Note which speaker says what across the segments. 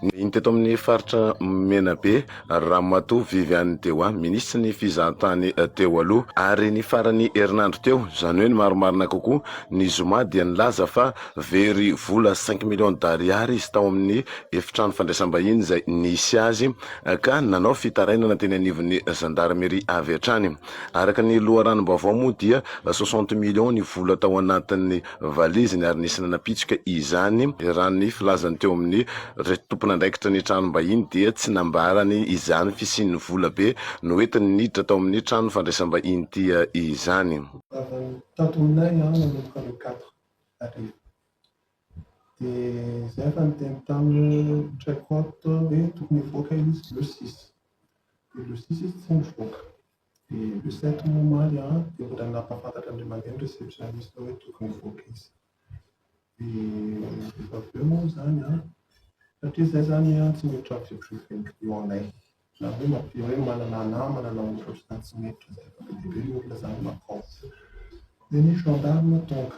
Speaker 1: Nahiny teto amin'ny faritra Menabe, Ramatoa Viviane Dewa, minisitry ny fizahantany teo aloha, ary ny faran'ny herinandro teo, izany hoe ny marimarina kokoa, ny zoma, dia nilaza fa very vola cinq millions d'ariary izy tao amin'ny efitrano fandraisam-bahiny izay nisy azy, ka nanao fitarainana teny anivon'ny zandarmeria avy hatrany. Araka ny loharanom-baovao moa dia soixante millions ny vola tao anatin'ny. valiziny ary nisy nanapitsoka izany, raha ny filazany teo amin'ny ry tompon'andraikitra ny tranom-bahiny dia tsy nambarany izany fisian'ny vola be noentiny niditra tao amin'ny trano fandraisam-bahiny tia izany. Tato
Speaker 2: aminay ianao nanomboka le quatre arivo dia zay efa niteny taminy Traicot hoe tokony hivoaka izy le six dia le six izy tsy nivoaka Dia le site moa omaly an, dia mbola nampahafantatra an'ilay mandeha ny receptionniste hoe tokony hivoaka izy. Dia rehefa avy eo moa izany an, satria izahay izany an tsy miditra amin'ny vie privée-n'ny clients-nay, na hoe mba te hoe manana namana na ohatra ohatr'izany tsy miditra izay fa be dia be ny olona izany makao. Dia ny gendarmes tonga.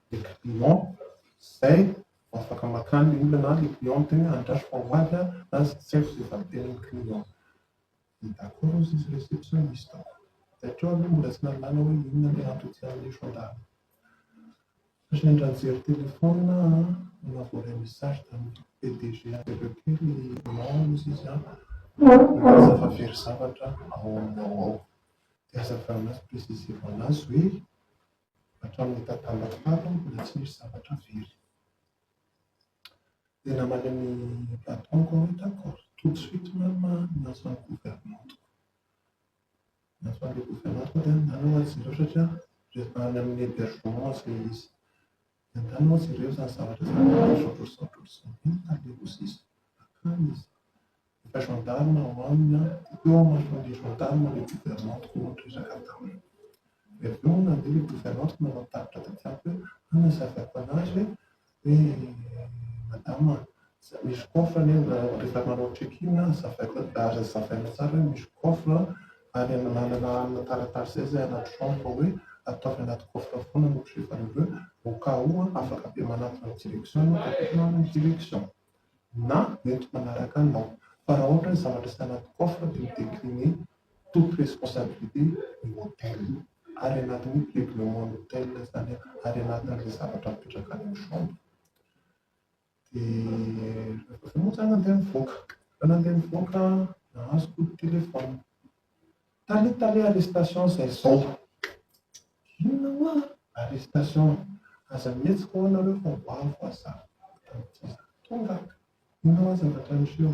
Speaker 2: dia le client zay vao afaka makany le olona na le client miteny hoe andraso fa ho avy aho na tsy haiko izay valintenin'ny client dia d'accord ozy izy hoe zay tsy misy taoko dia hatreo aloha mbola tsy nahalala hoe inona le antony tsy hanaiso angaha fa sendra nijery téléphone aho na voaray message tamin'ny PDG avy aveo kely non ozy izy an milaza fa very zavatra ao amin'ny ao ao dia azavao anazy préciser-vao anazy hoe hatramin'ny tatala tany mbola tsy misy zavatra very. Dia namaly an'i Platon koa hoe d'accord, tout de suite même nahazo an'i gouvernante. Nahazo an'ilay gouvernante dia nanana izy ireo satria rehefa any amin'ny hébergement izay izy. Niadana hozy ireo izany zavatra izany ary nisaotrasaotra hozy Zantiany ka handeha koa sisa. Nankany izy. Efa gendarme ao aminy an! Dia teo manoloan'ilay gendarme ilay gouvernante no niraka taminy. Dia avy eo nandeha ilay gouvernante nanao tatitra taty amiko hoe, Hanazavako an'azy hoe, hoe madama an! Misy coffre anie rehefa manao check in ary zavaina tsara hoe misy coffre ary manana amina taratasy zay zay anaty chambre hoe ataovy anaty coffre foana ny objet valoreux au cas où afaka be manantona ny direction ianao dia tokony hanana direction na mety manaraka anao fa raha ohatra hoe zavatra tsy anaty coffre dia mi-decline toute responsabilité ny hotel ary anatin'ny règlement ny hotel izany ary anatin'ilay zavatra mipetraka any amin'ny chambre. Dia moa za nandeha nivoaka. Rehefa nandeha nivoaka, azoko ny téléphone. Tale tale arrestation izay izao. Inona hoa arrestation? Aza mihetsika hoa nareo fa ho avy hoa za. Tonga aho. Inona hoa zavatra niseho?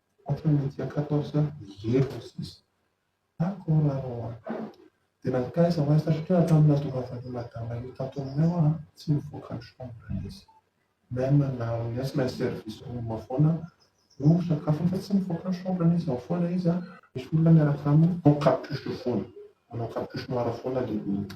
Speaker 2: Ohatran'ny mety akato aho sa irery no sisa? Ary koa raha anao an! Dia nankaiza ho aiza satria hatramin'ny nahatongavan'io madama io tato aminay an! tsy nivoaka ny chambre izy. Même na amin'ny asa na ny service room foana no misakafo fa tsy mivoaka ny chambre-ny izy ao foana izy an! misy olona miaraka aminy ao capuche foana manao capuche noir foana lehibe.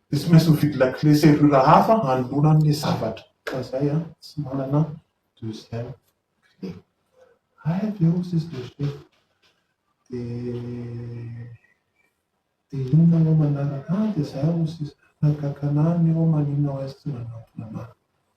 Speaker 2: Dia tsy maintsy mividy lakile serrure hafa hanoloana ny zavatra. Ka zay an, tsy manana deuxième clé. Hay avy eo sisy dossier. Dia dia inona eo manaraka an, dia zay hono sisa. Nagaga anah ny eo maninona hoy azy tsy nanantona anah.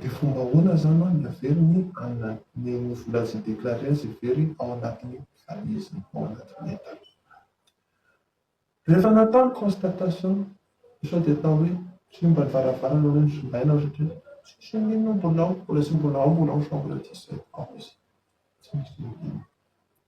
Speaker 2: Dia fomba ahoana izany an ny averiny an ny ny vola izay déclaré azy hevery ao anatin'ny valizy ao anatin'ny entana. Rehefa natao ny constatation dia sao dia atao hoe simba ny varavarana hoe nosimbaina ry reto, tsisy inon'inona mbola ao, mbola tsy mbola ao mbola ao chambre dix sept ao izy, tsy misy inon'inona.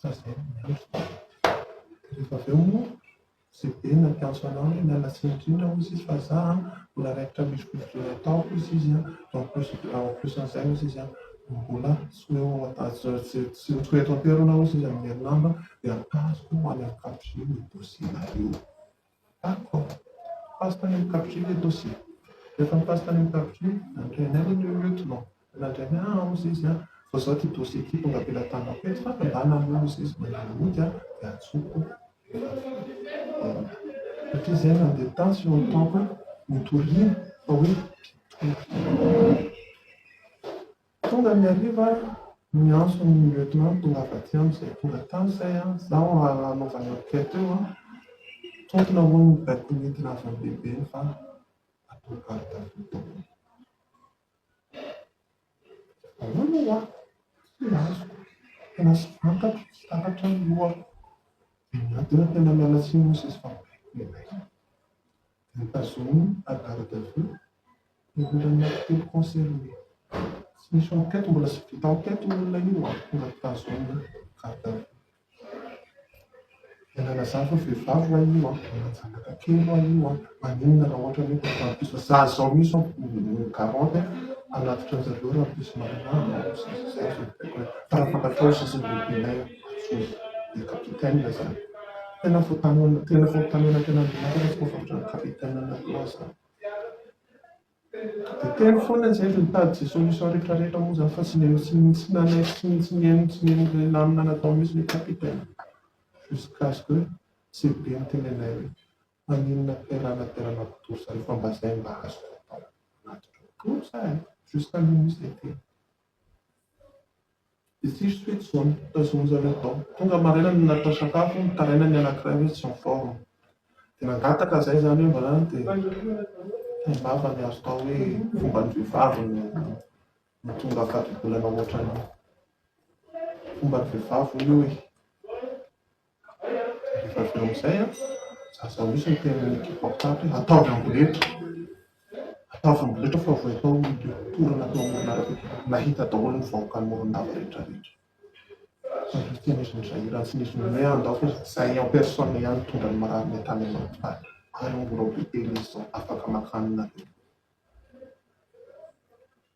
Speaker 2: Fa zay no marina. Rehefa avy eo moa ze be nampiantso anao hoe miala tsiny indrindra hozy izy fa za an mbola raikitra mihodinkodina ataoko hozy izy an, ankosin'izay hozy izy an mbola tsy ho eo tsy ho eto an-toerana hozy izy amin'ny herinandro an dia mitazoko ho any amin'ny quatrième ny dossier-nao io. D'accord. Passe tany amin'ny cabinet eto aussi. Rehefa mi-passe tany amin'ny cabinet, mandray anay anie ny lieutenant. Mandray anay, ah hozy izy an! fa izao ity dossier ity tonga avela an-tanako eto fa mandàna anie hozy izy, mandray ny ody an! dia antsoiko satria izay mandeha tany sy notaoko notoriana fa hoe mpitolona. Tonga ny hariva, niantso ny lieutenant tongava aty amiko izay tonga tany izay an, izaho hanaovana enquête eo an, tompona hono ny vehivavy nentina avy any lehibe iny fa atao garde à vue daholo. Ahoana ho'a? Tsy azoko, tena tsy fantatro, tsy takatra ny lohako. Dia miady eo, tena miala tsiny hono sisy fa mibaiko dia mibaiko. Notazominy fa garde à vue no mbola nitety concert io. Tsy nisy enquête mbola tsy vita enquête io olona io vao tonga tazomina garde à vue. Miala lazaha fa vehivavy hoa io an, manana zanaka kely hoa io an, maninona raha ohatra ny hoe mbola rahampitso, za zao mihintsy an mi garante hanatitra anjareo rahampitso marina an, fa raha fantatrao ny sisin'ny lehibenay an. Tena dia capitaine izany. Tena vao tanora tena vao tanora tena mianatra fa efa ohatran'ny capitaine anareo zany. Dia teny foana izay dia mitady izay solution rehetra rehetra moa zany fa tsy nino tsy nino tsy nanaiky tsy nino tsy nino tsy nino ilay lamina natao mihitsy ilay capitaine. Jusqu'à ce que tsy be ny teny anay hoe maninona terana terana kitory zareo fa mba izay mba azoko atao. Matotra kitory za e. Jusqu'à minuit izay teny. Ditsiry toy intsony, tazominy zareo tao. Tonga maraina no natao sakafo, nitaraina ny anankiray hoe tsy miforma. Dia nangataka izay izany io mba any dia taim-bava ny azo atao hoe fomban'ny vehivavy ny mahatonga fatibolana hoatran'io. Fomban'ny vehivavy hoy io e! Rehefa avy eo amin'izay an, aza ahosotra ny tenin'ny ekipa mpitandro hoe ataovy amboletra, ataovy amboletra fa vao atao ny mporana tao amoron'arabe, nahita daholo ny vahoakan'i Morondava rehetrarehetra. Izay no teny izy nizahirana sy nizy ninoe ahy ndao fa izahay en personne ihany nitondra ny marary ny tany amin'ny hopitaly, ary mbola hopitely izy izao, afaka maka an'i nareo.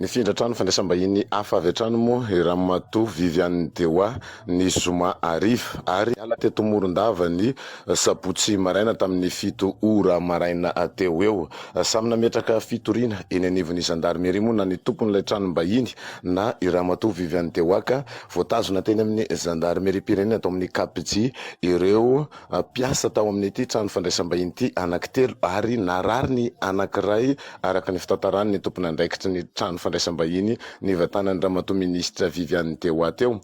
Speaker 1: Nifindra hatrany fandraisam-bahiny hafa avy hatrany moa i Ramatoa Viviane Dewa ny zoma hariva ary niala teto Morondava ny sabotsy maraina tamin'ny fito ora maraina teo ho eo. Samy nametraka fitoriana eny anivon'ny zandarmeria moa na ny tompon'ilay tranom-bahiny na i Ramatoa Viviane Dewa ka voatazona teny amin'ny zandarimeriam-pirenena tao amin'ny KPJ ireo Mpiasa tao amin'ity trano fandraisam-bahiny ity anankitelo ary narary ny anankiray, araka ny fitantaran'ny tompon'andraikitry ny trano fandraisam-bahiny nivantanan'ny Ramatoa Minisitra Viviane teo ho ato eo.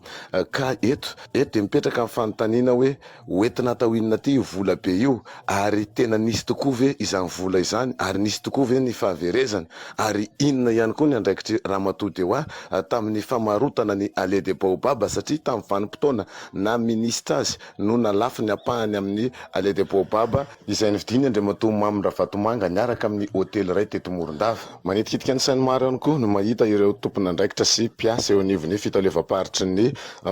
Speaker 1: Ka eto, eto dia mipetraka ny fanontaniana hoe ho entina atao inona ity io vola be io? Ary tena nisy tokoa ve izany vola izany? Ary nisy tokoa ve ny fahaverezany? Ary inona ihany koa ny andraikitry Ramatoa Dewa tamin'ny famarotana ny Allée des Baobabs satria tamin'ny vanim-potoana naha Minisitra azy, no nalafo ny ampahany amin'ny Allée des Baobabs, izay novidin'ny Andriamatoa Mamy Ravatomanga niaraka amin'ny hotely iray teto Morondava. Manitikitika ny sain'ny maro ihany koa ny mahita ireo tompon'andraikitra sy mpiasa eo anivon'ny fitaleovam-paritry ny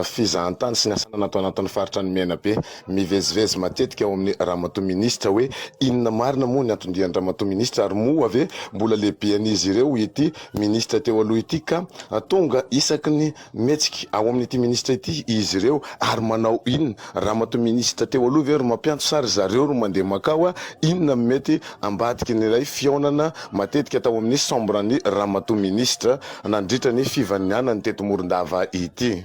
Speaker 1: fizahantany sy ny asa ananana ato anatin'ny faritra ny Menabe mivezivezy matetika ao amin'ny Ramatoa Minisitra hoe inona marina moa ny anton-dian-dRamatoa Minisitra ary moa ve mbola lehibean'izy ireo ity Minisitra teo aloha ity ka tonga isaky ny Mihetsika ao amin'ity minisitra ity izy ireo ary manao inona? Ramatoa minisitra teo aloha ve ry mampianto sa ry zareo ro mandeha makao? Inona no mety ambadiky ny ilay fihaonana matetika tao amin'ny Sambran'ny ramatoa minisitra nandritra ny fivanianany teto Morondava ity?